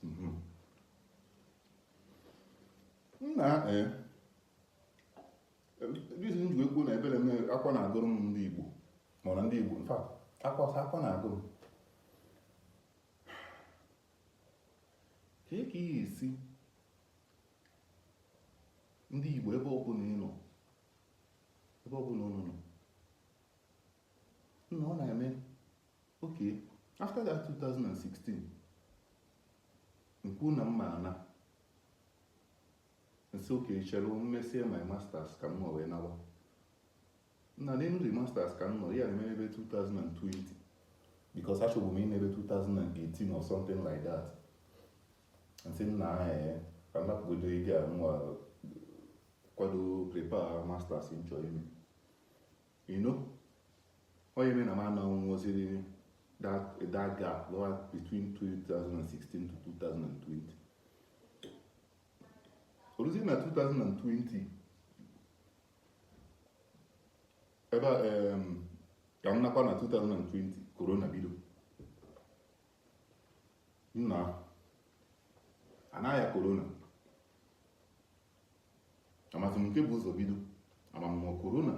mhm. nna e, reason m ji ekwu na ebere m akwa na-agụrụ m ndị Igbo mana ndị Igbo in fact akwa akwa na-agụ m ka e ka ihe esi ndị Igbo ebe ọ bụla ị nọ ebe ọ bụla ụnụ nọ nna ọ na-eme Okay, after that 2016, m kwu na m ma ana m sị okay chere m mesie my masters ka m nọ wee nawa nna n'elu the masters ka m nọ ya eme ebe 2020 because achọbu m ime ebe 2018 or something like that m sị nna ee ka m napụgodo ego a nwa kwado prepare masters m chọ ime You know, ọ ya mere na m anọ nweziri that, that gap nụwa between 2016 to 2020. O ruzi na 2020 ebe um, ka m nakwa na 2020 corona bido nna anaghị ya corona amazị m nke bu ụzọ bido ama ọ corona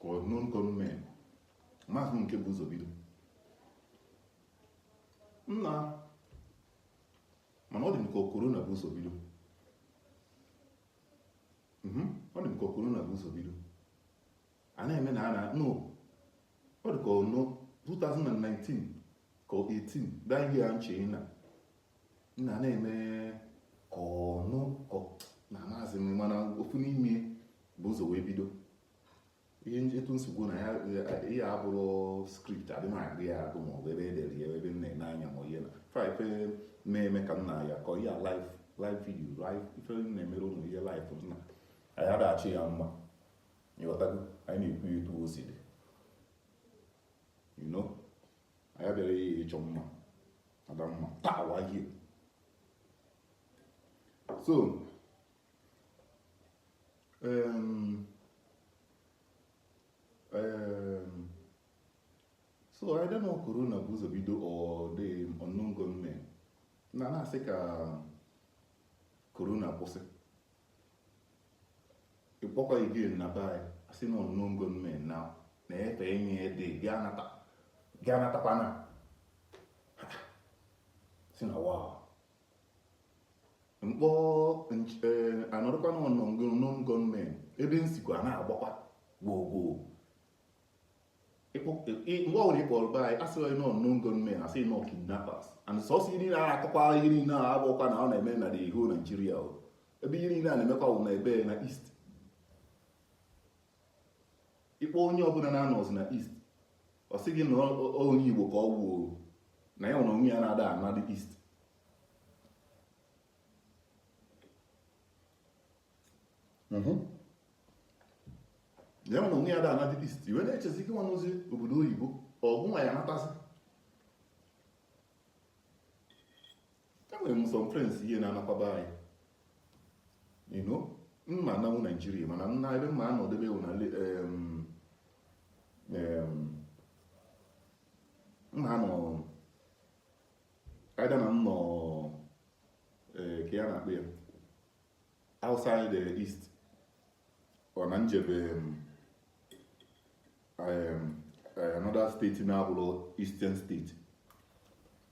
ka ọ unknown gunmen amazị m nke bu ụzọ bido nna mana ọ dị m ka corona bu ụzọ bido mhm, ọ dị m ka corona bu ụzọ bido a na-eme na a na no ọ dị ka ọ na 2019 ka 18 daa ihe ya nche na na na-eme ọnụ nna amazị m mana ofu n'ime bu ụzọ wee bido ihe etu nsogbu na ya ihe abụrọ script adị m agụ ya agụ ma ọ bụ ebe e dere ya ebe m na-ene anya ma ihe na ife ife na-eme ka m na ya kọ ihe live live video live ife m na-emere ụnụ ihe live nna anyị ada achọ ya mma ị ghọtago anyị na-ekwu ya etu o si dị you know anyị abịarọ ya ịchọ mma Adamma taa wa ihe so um, um, so I don't know corona bu ụzọ bido or the unknown gunmen a na-asị ka corona kwụsị ị kpọkwa again na be anyị a sị na unknown gunmen na na-efe enyi ede gị anatakwana sị na wa mkpọ e, a nọrọkwa na unknown gunmen ebe nsikwa na-agbakwa gboo gboo mgbe ọbụla ị kpọrọ be anyị a sịghị na ọ unknown gunmen a sị na ọ kidnappers and sọsọ ihe niile a akọkwa ihe niile a abụkwa na ọ na-eme na the whole Nigeria ebe ihe niile a na-emekwa bụ na ebe na east ị kpọọ onye ọbụla na-anọzi na east ọ sị gị na onye Igbo ka ọ gwuo na ya nwa onwe ya na ada ana the east mhm. ya na onwe ya ada ana the east i wee na-echezi gị nwa nọzi obodo oyibo ọ gị nwa ya-anatazi enwere m some friends ihe na-anakwa be anyị you know m ma-ananwu Nigeria mana nna ebe m ma-anọdebe wụ na m ma-anọ either na m nọ eh, ka ya na-akpọ ya outside the East or na m jebe um, um, uh, another state na-abụrọ Eastern state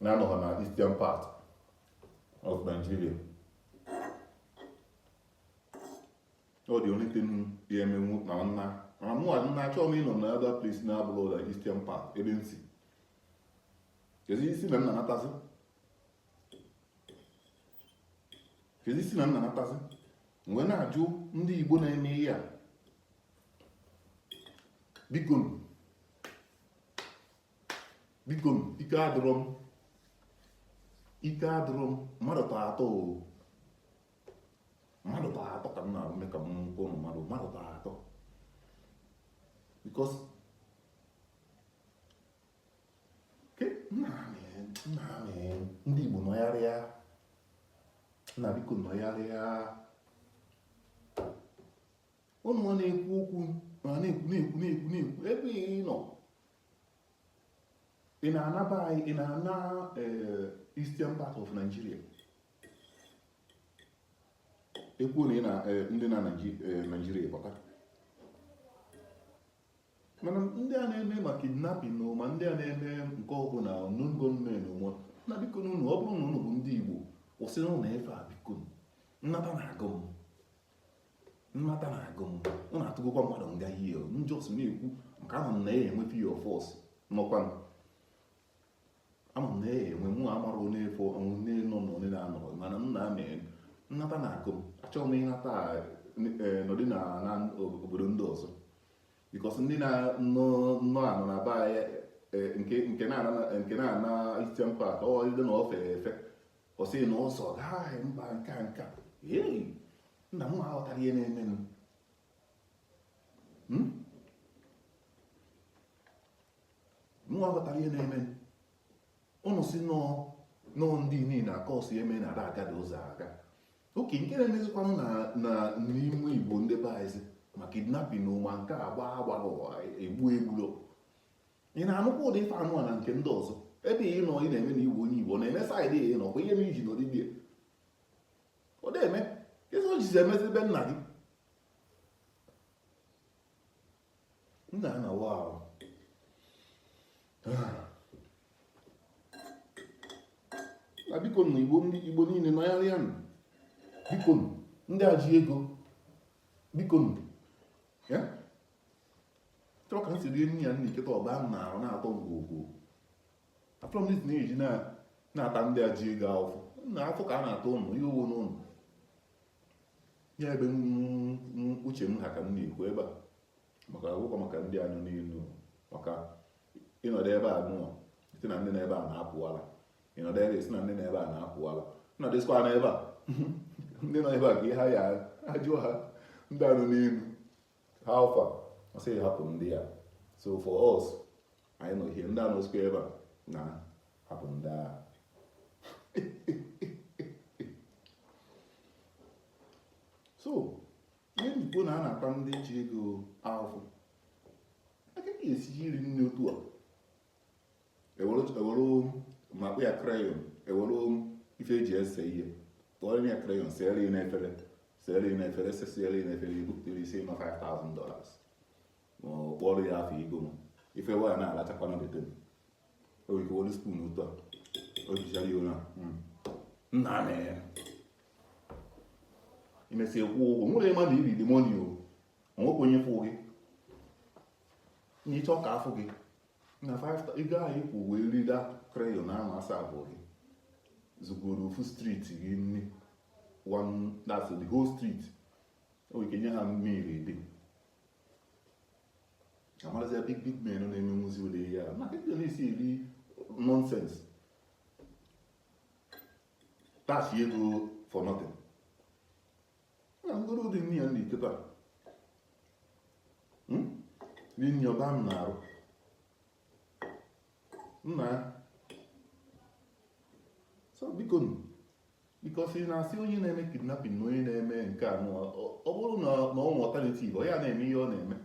na-anọghị na Eastern part of Nigeria ọ the only thing ya-emenwu na nna na mụwa nna achọghị m ịnọ na other place na-abụrọ the Eastern part ebe m si kezi isi na nna natazi kedu isi na nna natazi m wee na-ajụ ndị Igbo na-eme ihe a bikonu bikonu ike adịrọ m ike adịrọ m mmadụ tọ atọ o mmadụ tọ atọ ka m na-arụ mee ka m nke ụnụ mmadụ mmadụ tọ atọ because ndị Igbo nọgharịa nna biko nọgharịa ụnụ nwa na-ekwu okwu na na-ekwu na-ekwu na-ekwu na-ekwu ebe ị nọ ị na-ana be anyị ị na-ana eh, eastern part of Nigeria ekwu na ị na eh, ndị na Nigeria eh, pụta mana ndị a na-eme ma kidnapping na ma ndị a na-eme nke ọ bụ na unknown gunmen ụmụ nna bikonu ụnụ ọ bụrụ na ụnụ bụ ndị Igbo kwụsịnụ ụnụ ife a biko nnata na-agụ m nnata na-agụ m ụnụ atụgokwa mmadụ nga ihe m just na-ekwu maka ama m na a ya-enwe a few of us nọkwa ama m na e enwe mụ amara onye efo ọnwụ nne nọ na onye na-anọrọ mana m na-amị ịnata na-agụ m achọghị m ịnata eh, nọdị na na obodo ndị ọzọ because ndị na-anọ nọ anọ na be anyị eh, nke nke na-ana nke na-ana Eastern part ọ dị na ofe efe ọ sị na ọsọ gaghị mba nke a nke a Hey, nna m aghọtara ihe na-emenụ Hmm? mụwa ghọtara ihe na-eme ụnụ si nọọ nọọ ndị niile na kọọsụ eme na ada agada ụzọ aga oke nke na-emezikwanụ na n'ime igbo ndị be anyị ma kidnapping ma nke a gbaa agbara ụwa egbu egburo ị na-anụkwa ụdị ife anụ a na nke ndị ọzọ ebe ị nọ ị na-eme na igbo onye igbo na-eme side ya nọkwa ihe na iji nọdịbie ọ na-eme ịzụ jizi emezi ebe nna gị m na-anawa ahụ na biko na igbo ndị igbo niile nọgharịa nụ biko nụ ndị a ji ego biko nụ ya chọrọ ka m si rie nri ya nna iketa ọba m na-arụ na-atọ ngwogwo afọ m na eji na-ata ndị a ji ego ahụfụ na afọ ka a na-atọ ụnụ ihe owo n'ụnụ ya ebe uche m ha ka m na-ekwu ebe a maka akwụkwọ maka ndị a nọ n'elu maka ịnọdụ ebe a nụọ sị na ndị nọ ebe a na-apụwala ịnọdụ ebe sị na ndị nọ ebe a na-apụwala nọdụsịkwa na ebe a ndị nọ ebe a ka ihe ha ya ajụọ ha ndị a nọ n'elu how far ọ sị hapụ ndị a so for us anyị nọ ihe ndị a nọsikwa ebe a na hapụ ndị a so ihe m ji kwuo na a na-ata ndị ji ego ahụhụ aka ga-esi eri nri otu a e were makpụ ya crayon e were ife e ji ese ihe tụọ ya crayon seere ya n'efere seere ya n'efere sesiere ya n'efere e bupụtara ị sị na ọ 5000 dollars ma ọ kpọrọ ya afọ ego m ife waya na-alachakwana better m o ike wolu spoon otu a o jichara ya ụra hmm. nna na ya i mesịa kwụọ ụgwọ nwere ịma na ibi dị money o o nwekwa onye fụ gị na ị chọ ka a fụ gị na ego anyị kwụ wee rie that crayon ahụ asa abụọ gị zụgoro ofu street gị nri one that's the whole street o nwere ike nye ha nri ebe amarazi ya big big men na-eme nwụzi ụlọ ihe a maka ndị na-esi eri nonsense tasịa ego for nothing na ngoro dị nne ya na iketa hmm? dị nne ọba m na-arụ nna ya so biko because ị na-asị onye na-eme kidnapping na onye na-eme nke a ọ bụrụ na ọ nwe alternative ọ ya na-eme ihe ọ na-eme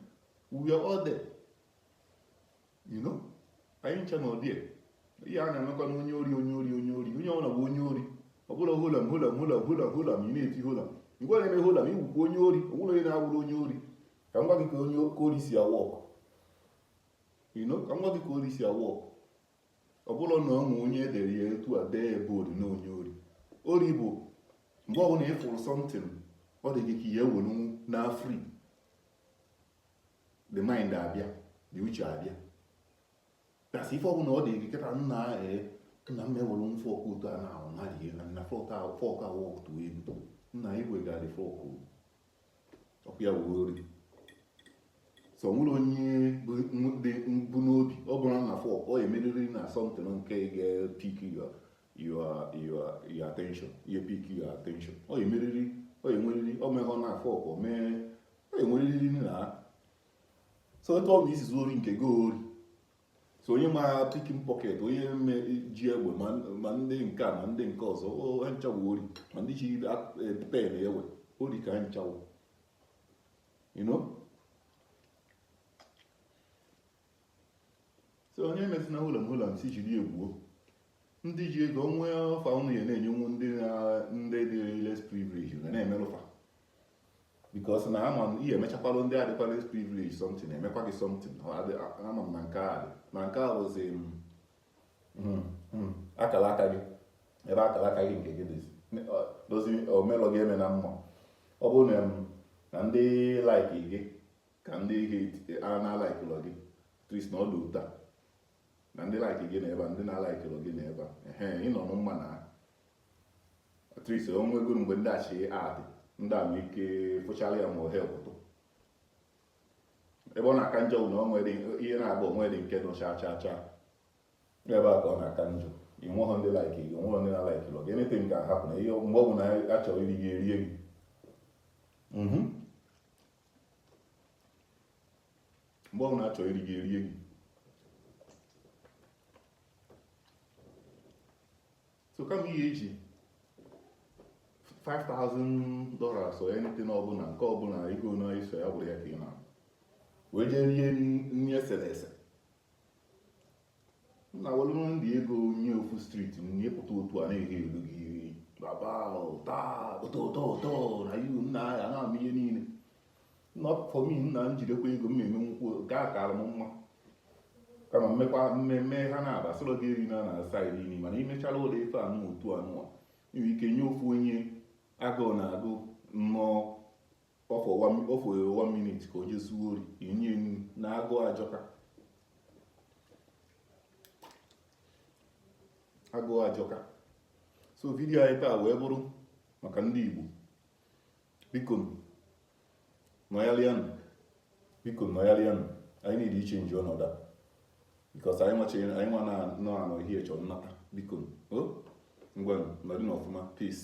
we are all there you know anyị ncha na ụdị ihe a na-emekwa na onye ori onye ori onye ori onye ọbụla bụ onye ori ọ bụla holam holam holam holam holam ị na-eti holam ngwa na-eme holam ị wụkwa onye ori ọ bụla onye na-awụrụ onye ori ka m gwa gị ka onye ka ori si a-work you know ka m gwa gị ka ori si a-work ọ bụrọ na o nwe onye e dere ya etu a dee ebe ori na onye ori ori bụ mgbe ọbụla ị fụrụ something ọ dị gị ka ị were na free the mind abịa the uche abịa ka a sị ife ọbụla ọ dị gị kịta nna ee nna m ewere m fork otu a na ahụ mmadụ ihe na fork ahụ fork ahụ atụ egwu nna igwegadị fork ọ ya wụ ori so o nwere onye bu n'obi ọ bụrụ na fork ọ emeriri na something nke ga-epick your your your attention ihe pick your attention ọ emeriri ọ enweriri ọ meghọ na fork ọ mee ọ enweriri na so etu ọ bụ ị si zuo ori nke gị ori so onye ma pickpocket onye ji egbe ma ndị nke a ma ndị nke ọzọ ha ncha wụ ori ma ndị ji e, pen ezu ori ka ha ncha wụ you know so onye emezina holam holam sị jiri egwuo ndị ji ego o nwe offer unu ya na-enyenwu ndị ndị dị less privilege ga na-emerụ fa because na ama m ihe emechakwalụ ndị a dịkwa less privilege something emekwa gị something ama m na nke a dị na nke a bụzi hmm, hmm, akara aka gị ebe akara aka gị nke gị dịzi dozi o melọ gị eme na mma ọ bụrụ na ndị like gị ka ndị ihe a na-alikelọ gị at least na ọ dị etu a na ndị like gị nọ ebe a ndị na-alikelọ gị nọ ebe a ehe ị nọ na mma at least o nwego mgbe ndị achị adị ndị a nwee ike fụchara ya ma ohe pụtụ ebe ọ na-aka njọ bụ na o nwere ihe na-agba onwe dị nke nọ chaa chaa chaa ebe a ka ọ na-aka njọ ị nweghọ ndị like gị o nweghọ ndị na-alikelọ gị anything can happen na ihe mgbe ọ bụla a chọrọ iri gị erie gị mgbe ọ na-achọ iri gị erie gị so kama ị ya-eji 5000 dollars or anything ọbụla nke ọbụla ego na iso ya bụrụ ya ka ị na wee jee rie nri eserese m na-ewelụ ndị ego nye ofu street m nye pụta otu a na-eghelụ gị iri baba ụta ụtọ ụtọ ụtọ na ihu nna ya na-ama ihe niile nna ọkụkọ m nna m jidekwa ego m na-eme nkwụ nke a kaara m mma kama m mekwa mmemme ha na-aba sọrọ gị eri na na side iri mana imechala ụlọ ife anụ otu anụwa nwere ike nye ofu onye agụụ na-agụ nnọọ ọ fọ one minute ka o je zuo ori enye enyi na agụụ ajọka agụụ ajọka so video anyị taa wee bụrụ maka ndị Igbo biko nọyalịanụ biko nọyalịanụ anyị niile iche nji ọnọdụ a because anyị nwachi anyị nwa na nọ anọ ihe chọrọ nnata biko ngwanụ nọdụnụ ọfụma peace